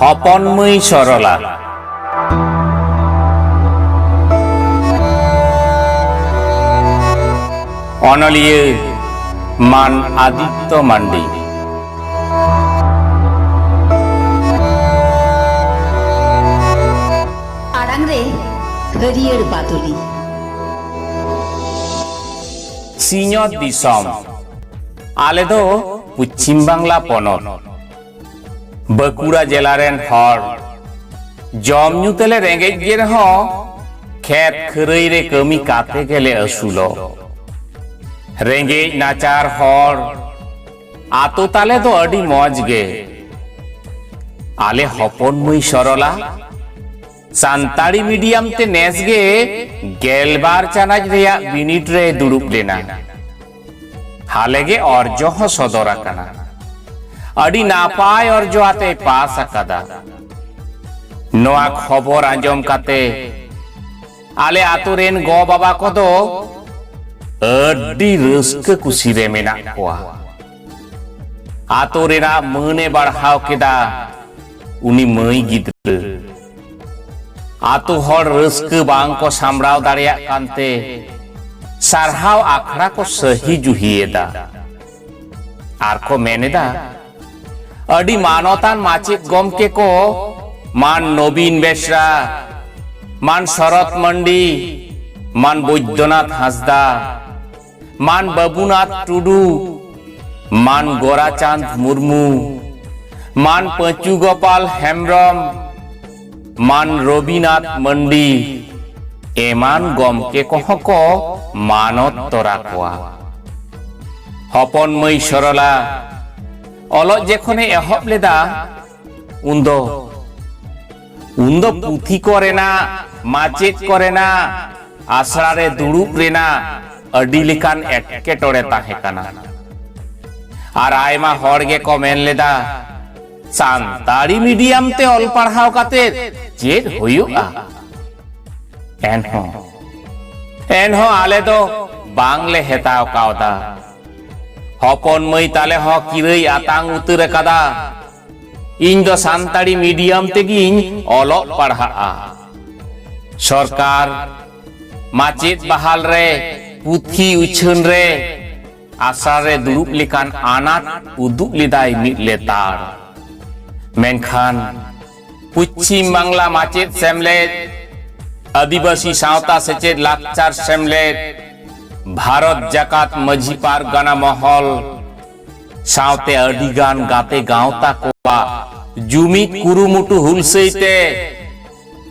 ᱦᱚᱯᱚᱱ ᱢᱟᱹᱭ ᱥᱚᱨᱚᱞᱟ ᱚᱱᱚᱞᱤᱭᱟᱹ ᱢᱟᱱ ᱟᱫᱤᱛᱛᱚ ᱢᱟᱱᱰᱤ ᱟᱲᱟᱝ ᱨᱮ ᱦᱟᱹᱨᱭᱟᱹᱲ ᱵᱟᱫᱚᱞᱤ ᱥᱤᱧᱚᱛ ᱫᱤᱥᱚᱢ ᱟᱞᱮ ᱫᱚ ᱯᱚᱪᱷᱤᱢ ᱵᱟᱝᱞᱟ ᱯᱚᱱᱚᱛ ᱵᱟᱸᱠᱩᱲᱟ ᱡᱮᱞᱟ ᱨᱮᱱ ᱦᱚᱲ ᱡᱚᱢ ᱧᱩ ᱛᱮᱞᱮ ᱨᱮᱸᱜᱮᱡ ᱜᱮ ᱨᱮᱦᱚᱸ ᱠᱷᱮᱛ ᱠᱷᱟᱹᱨᱟᱹᱭ ᱨᱮ ᱠᱟᱹᱢᱤ ᱠᱟᱛᱮ ᱜᱮᱞᱮ ᱟᱹᱥᱩᱞᱚᱜ ᱨᱮᱸᱜᱮᱡ ᱱᱟᱪᱟᱨ ᱦᱚᱲ ᱟᱛᱳ ᱛᱟᱞᱮ ᱫᱚ ᱟᱹᱰᱤ ᱢᱚᱡᱽ ᱜᱮ ᱟᱞᱮ ᱦᱚᱯᱚᱱ ᱢᱟᱹᱭ ᱥᱚᱨᱚᱞᱟ ᱥᱟᱱᱛᱟᱲᱤ ᱢᱤᱰᱤᱭᱟᱢ ᱛᱮ ᱱᱮᱥ ᱜᱮ ᱜᱮᱞᱵᱟᱨ ᱪᱟᱱᱟᱪ ᱨᱮᱭᱟᱜ ᱵᱤᱱᱤᱰ ᱨᱮ ᱫᱩᱲᱩᱵ ᱞᱮᱱᱟ ᱦᱟᱞᱮ ᱜᱮ ᱚᱨᱡᱚ ᱦᱚᱸ ᱥᱚᱫᱚᱨ ᱟᱠᱟᱱᱟ ᱟᱹᱰᱤ ᱱᱟᱯᱟᱭ ᱚᱨᱡᱚ ᱟᱛᱮ ᱯᱟᱥ ᱟᱠᱟᱫᱟ ᱱᱚᱣᱟ ᱠᱷᱚᱵᱚᱨ ᱟᱸᱡᱚᱢ ᱠᱟᱛᱮ ᱟᱞᱮ ᱟᱛᱳ ᱨᱮᱱ ᱜᱚ ᱵᱟᱵᱟ ᱠᱚᱫᱚ ᱟᱹᱰᱤ ᱨᱟᱹᱥᱠᱟᱹ ᱠᱩᱥᱤ ᱨᱮ ᱢᱮᱱᱟᱜ ᱠᱚᱣᱟ ᱟᱛᱳ ᱨᱮᱱᱟᱜ ᱢᱟᱹᱱ ᱮ ᱵᱟᱲᱦᱟᱣ ᱠᱮᱫᱟ ᱩᱱᱤ ᱢᱟᱹᱭ ᱜᱤᱫᱽᱨᱟᱹ ᱟᱛᱳ ᱦᱚᱲ ᱨᱟᱹᱥᱠᱟᱹ ᱵᱟᱝ ᱠᱚ ᱥᱟᱢᱲᱟᱣ ᱫᱟᱲᱮᱭᱟᱜ ᱠᱟᱱᱛᱮ ᱥᱟᱨᱦᱟᱣ ᱟᱠᱷᱲᱟ ᱠᱚ ᱥᱟᱹᱦᱤ ᱡᱩᱦᱤᱭᱮᱫᱟ ᱟᱨ ᱠᱚ ᱢᱮᱱᱮᱫᱟ ᱟᱹᱰᱤ ᱢᱟᱱᱚᱛᱟᱱ ᱢᱟᱪᱮᱫ ᱜᱚᱢᱠᱮ ᱠᱚ ᱢᱟᱱ ᱱᱚᱵᱤᱱ ᱵᱮᱥᱨᱟ ᱢᱟᱱ ᱥᱚᱨᱚᱛ ᱢᱟᱱᱰᱤ ᱢᱟᱱ ᱵᱚৈᱫᱽᱭᱚᱱᱟᱛᱷ ᱦᱟᱸᱥᱫᱟ ᱢᱟᱱ ᱵᱟᱹᱵᱩᱱᱟᱛᱷ ᱴᱩᱰᱩ ᱢᱟᱱ ᱜᱚᱨᱟᱪᱟᱸᱫᱽ ᱢᱩᱨᱢᱩ ᱢᱟᱱ ᱯᱟᱹᱪᱩ ᱜᱳᱯᱟᱞ ᱦᱮᱢᱵᱨᱚᱢ ᱢᱟᱱ ᱨᱚᱵᱤᱱᱟᱛᱷ ᱢᱟᱱᱰᱤ ᱮᱢᱟᱱ ᱜᱚᱢᱠᱮ ᱠᱚᱦᱚᱸ ᱠᱚ ᱢᱟᱱᱚᱛ ᱛᱚᱨᱟ ᱠᱚᱣᱟ ᱦᱚᱯᱚᱱ ᱢᱟᱹᱭ ᱥᱚᱨᱚᱞᱟ ᱚᱞᱚᱜ ᱡᱮᱠᱷᱚᱱᱮ ᱮᱦᱚᱵ ᱞᱮᱫᱟ ᱩᱱᱫᱚ ᱩᱱᱫᱚ ᱯᱩᱛᱷᱤ ᱠᱚᱨᱮᱱᱟᱜ ᱢᱟᱪᱮᱫ ᱠᱚᱨᱮᱱᱟᱜ ᱟᱥᱲᱟ ᱨᱮ ᱫᱩᱲᱩᱵ ᱨᱮᱱᱟᱜ ᱟᱹᱰᱤ ᱞᱮᱠᱟᱱ ᱮᱴᱠᱮᱴᱚᱬᱮ ᱛᱟᱦᱮᱸ ᱠᱟᱱᱟ ᱟᱨ ᱟᱭᱢᱟ ᱦᱚᱲ ᱜᱮᱠᱚ ᱢᱮᱱ ᱞᱮᱫᱟ ᱥᱟᱱᱛᱟᱲᱤ ᱢᱤᱰᱤᱭᱟᱢ ᱛᱮ ᱚᱞ ᱯᱟᱲᱦᱟᱣ ᱠᱟᱛᱮ ᱪᱮᱫ ᱦᱩᱭᱩᱜᱼᱟ ᱮᱱᱦᱚᱸ ᱮᱱᱦᱚᱸ ᱟᱞᱮ ᱫᱚ ᱵᱟᱝᱞᱮ ᱦᱮᱛᱟᱣ ᱠᱟᱣᱫᱟ ᱦᱚᱯᱚᱱ ᱢᱟᱹᱭ ᱛᱟᱞᱮ ᱦᱚᱸ ᱠᱤᱨᱟᱹᱭ ᱟᱛᱟᱝ ᱩᱛᱟᱹᱨ ᱟᱠᱟᱫᱟ ᱤᱧ ᱫᱚ ᱥᱟᱱᱛᱟᱲᱤ ᱢᱤᱰᱤᱭᱟᱢ ᱛᱮᱜᱤᱧ ᱚᱞᱚᱜ ᱯᱟᱲᱦᱟᱜᱼᱟ ᱥᱚᱨᱠᱟᱨ ᱢᱟᱪᱮᱫ ᱵᱟᱦᱟᱞ ᱨᱮ ᱯᱩᱛᱷᱤ ᱩᱪᱷᱟᱹᱱ ᱨᱮ ᱟᱥᱲᱟ ᱨᱮ ᱫᱩᱲᱩᱵ ᱞᱮᱠᱟᱱ ᱟᱱᱟᱴ ᱩᱫᱩᱜ ᱞᱮᱫᱟᱭ ᱢᱤᱫ ᱞᱮᱛᱟᱲ ᱢᱮᱱᱠᱷᱟᱱ ᱯᱚᱪᱷᱤᱢ ᱵᱟᱝᱞᱟ ᱢᱟᱪᱮᱫ ᱥᱮᱢᱞᱮᱫ ᱟᱹᱫᱤᱵᱟᱹᱥᱤ ᱥᱟᱶᱛᱟ ᱥᱮᱪᱮᱫ ᱞᱟᱠᱪᱟᱨ ᱥᱮᱢᱞᱮᱫ ᱵᱷᱟᱨᱚᱛ ᱡᱟᱠᱟᱛ ᱢᱟᱹᱡᱷᱤ ᱯᱟᱨᱜᱟᱱᱟ ᱢᱚᱦᱚᱞ ᱥᱟᱶᱛᱮ ᱟᱹᱰᱤ ᱜᱟᱱ ᱜᱟᱛᱮ ᱜᱟᱶᱛᱟ ᱠᱚᱣᱟᱜ ᱡᱩᱢᱤᱫ ᱠᱩᱨᱩᱢᱩᱴᱩ ᱦᱩᱞᱥᱟᱹᱭ ᱛᱮ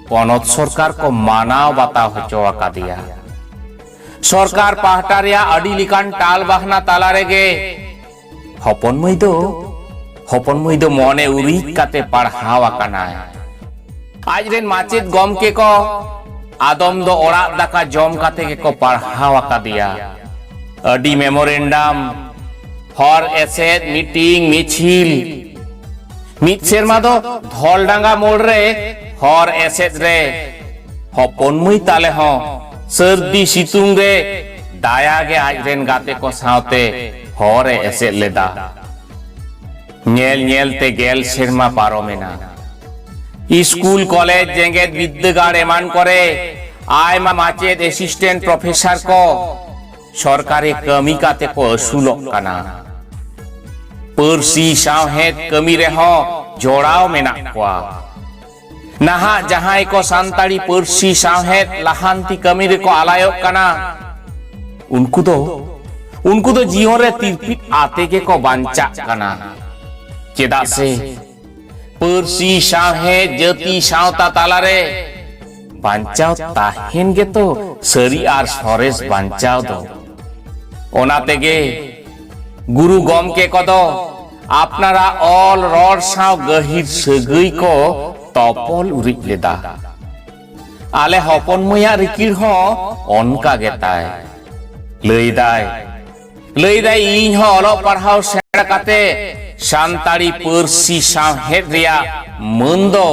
ᱯᱚᱱᱚᱛ ᱥᱚᱨᱠᱟᱨ ᱠᱚ ᱢᱟᱱᱟᱣ ᱵᱟᱛᱟᱣ ᱦᱚᱪᱚ ᱟᱠᱟᱫᱮᱭᱟ ᱥᱚᱨᱠᱟᱨ ᱯᱟᱦᱴᱟ ᱨᱮᱭᱟᱜ ᱟᱹᱰᱤ ᱞᱮᱠᱟᱱ ᱴᱟᱞ ᱵᱟᱦᱱᱟ ᱛᱟᱞᱟ ᱨᱮᱜᱮ ᱦᱚᱯᱚᱱ ᱢᱟᱹᱭ ᱫᱚ ᱦᱚᱯᱚᱱ ᱢᱟᱹᱭ ᱫᱚ ᱢᱚᱱᱮ ᱩᱨᱤᱡ ᱠᱟᱛᱮ ᱯᱟᱲᱦᱟᱣ ᱟᱠᱟᱱᱟᱭ ᱟᱡ ᱨᱮᱱ ᱢᱟᱪᱮᱫ ᱜᱚᱢᱠᱮ ᱠᱚ ᱟᱫᱚᱢ ᱫᱚ ᱚᱲᱟᱜ ᱫᱟᱠᱟ ᱡᱚᱢ ᱠᱟᱛᱮ ᱜᱮᱠᱚ ᱯᱟᱲᱦᱟᱣ ᱟᱠᱟᱫᱮᱭᱟ ᱟᱹᱰᱤ ᱢᱮᱢᱳᱨᱮᱱᱰᱟᱢ ᱦᱚᱨ ᱮᱥᱮᱫ ᱢᱤᱴᱤᱝ ᱢᱤᱪᱷᱤᱞ ᱢᱤᱫ ᱥᱮᱨᱢᱟ ᱫᱚ ᱫᱷᱚᱞᱰᱟᱸᱜᱟ ᱢᱳᱲ ᱨᱮ ᱦᱚᱨ ᱮᱥᱮᱫ ᱨᱮ ᱦᱚᱯᱚᱱ ᱢᱟᱹᱭ ᱛᱟᱞᱮ ᱦᱚᱸ ᱥᱟᱹᱨᱫᱤ ᱥᱤᱛᱩᱝ ᱨᱮ ᱫᱟᱭᱟ ᱜᱮ ᱟᱡ ᱨᱮᱱ ᱜᱟᱛᱮ ᱠᱚ ᱥᱟᱶᱛᱮ ᱦᱚᱨ ᱮ ᱮᱥᱮᱫ ᱞᱮᱫᱟ ᱧᱮᱞ ᱧᱮᱞ ᱛᱮ ᱜᱮᱞ ᱥᱮᱨᱢᱟ ᱯᱟᱨᱚᱢ ᱮᱱᱟ᱾ ᱤᱥᱠᱩᱞ, ᱠᱚᱞᱮᱡᱽ, ᱡᱮᱜᱮᱛ ᱵᱤᱫᱽᱫᱟᱹᱜᱟᱲ ᱮᱢᱟᱱ ᱠᱚᱨᱮ ᱟᱭᱢᱟ ᱢᱟᱪᱮᱫ, ᱮᱥᱤᱥᱴᱮᱱᱴ ᱯᱨᱚᱯᱷᱮᱥᱚᱨ ᱠᱚ ᱥᱚᱨᱠᱟᱨᱤ ᱠᱟᱹᱢᱤ ᱠᱟᱛᱮ ᱠᱚ ᱟᱹᱥᱩᱞᱚᱜ ᱠᱟᱱᱟ᱾ ᱯᱟᱹᱨᱥᱤ ᱥᱟᱶᱦᱮᱫ ᱠᱟᱹᱢᱤ ᱨᱮᱦᱚᱸ ᱡᱚᱲᱟᱣ ᱢᱮᱱᱟᱜ ᱠᱚᱣᱟ᱾ ᱱᱟᱦᱟᱜ ᱡᱟᱦᱟᱸᱭ ᱠᱚ ᱥᱟᱱᱛᱟᱲᱤ ᱯᱟᱹᱨᱥᱤ ᱥᱟᱶᱦᱮᱫ ᱞᱟᱦᱟᱱᱛᱤ ᱠᱟᱹᱢᱤ ᱨᱮᱠᱚ ᱟᱞᱟᱭᱚᱜ ᱠᱟᱱᱟ ᱩᱱᱠᱩ ᱫᱚ ᱩᱱᱠᱩ ᱫᱚ ᱡᱤᱭᱚᱱ ᱨᱮ ᱛᱤᱨᱯᱤᱫ ᱟᱛᱮ ᱜᱮᱠᱚ ᱵᱟᱧᱪᱟᱜ ᱠᱟᱱᱟ ᱪᱮᱫᱟᱜ ᱥᱮ ᱯᱟᱹᱨᱥᱤ ᱥᱟᱶᱦᱮᱫ ᱡᱟᱹᱛᱤ ᱥᱟᱶᱛᱟ ᱛᱟᱞᱟᱨᱮ ᱵᱟᱧᱪᱟᱣ ᱛᱟᱦᱮᱱ ᱜᱮᱛᱚ ᱥᱟᱹᱨᱤ ᱟᱨ ᱥᱚᱨᱮᱥ ᱵᱟᱧᱪᱟᱣ ᱫᱚ ᱚᱱᱟ ᱛᱮᱜᱮ ᱜᱩᱨᱩ ᱜᱚᱢᱠᱮ ᱠᱚᱫᱚ ᱟᱯᱱᱟᱨᱟᱜ ᱚᱞ ᱨᱚᱲ ᱥᱟᱶ ᱜᱟᱹᱦᱤᱨ ᱥᱟᱹᱜᱟᱹᱭ ᱠᱚ ᱛᱚᱯᱚᱞ ᱩᱨᱤᱡ ᱞᱮᱫᱟ ᱟᱞᱮ ᱦᱚᱯᱚᱱ ᱢᱟᱹᱭᱟᱜ ᱨᱤᱠᱤᱲ ᱦᱚᱸ ᱚᱱᱠᱟ ᱜᱮ ᱛᱟᱭ ᱞᱟᱹᱭᱫᱟᱭ ᱞᱟᱹᱭᱫᱟᱭ ᱤᱧ ᱦᱚᱸ ᱚᱞᱚᱜ ᱯᱟᱲᱦᱟᱣ ᱥᱮᱬᱟ ᱠᱟᱛᱮ ᱥᱟᱱᱛᱟᱲᱤ ᱯᱟᱹᱨᱥᱤ ᱥᱟᱶᱦᱮᱫ ᱨᱮᱭᱟᱜ ᱢᱟᱹᱱ ᱫᱚ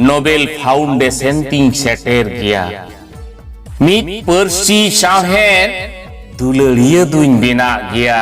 ᱱᱳᱵᱮᱞ ᱯᱷᱟᱣᱩᱱᱰᱮᱥᱚᱱ ᱛᱤᱧ ᱥᱮᱴᱮᱨ ᱜᱮᱭᱟ ᱢᱤᱫ ᱯᱟᱹᱨᱥᱤ ᱥᱟᱶᱦᱮᱫ ᱫᱩᱞᱟᱹᱲᱤᱭᱟᱹ ᱫᱩᱧ ᱵᱮᱱᱟᱜ ᱜᱮᱭᱟ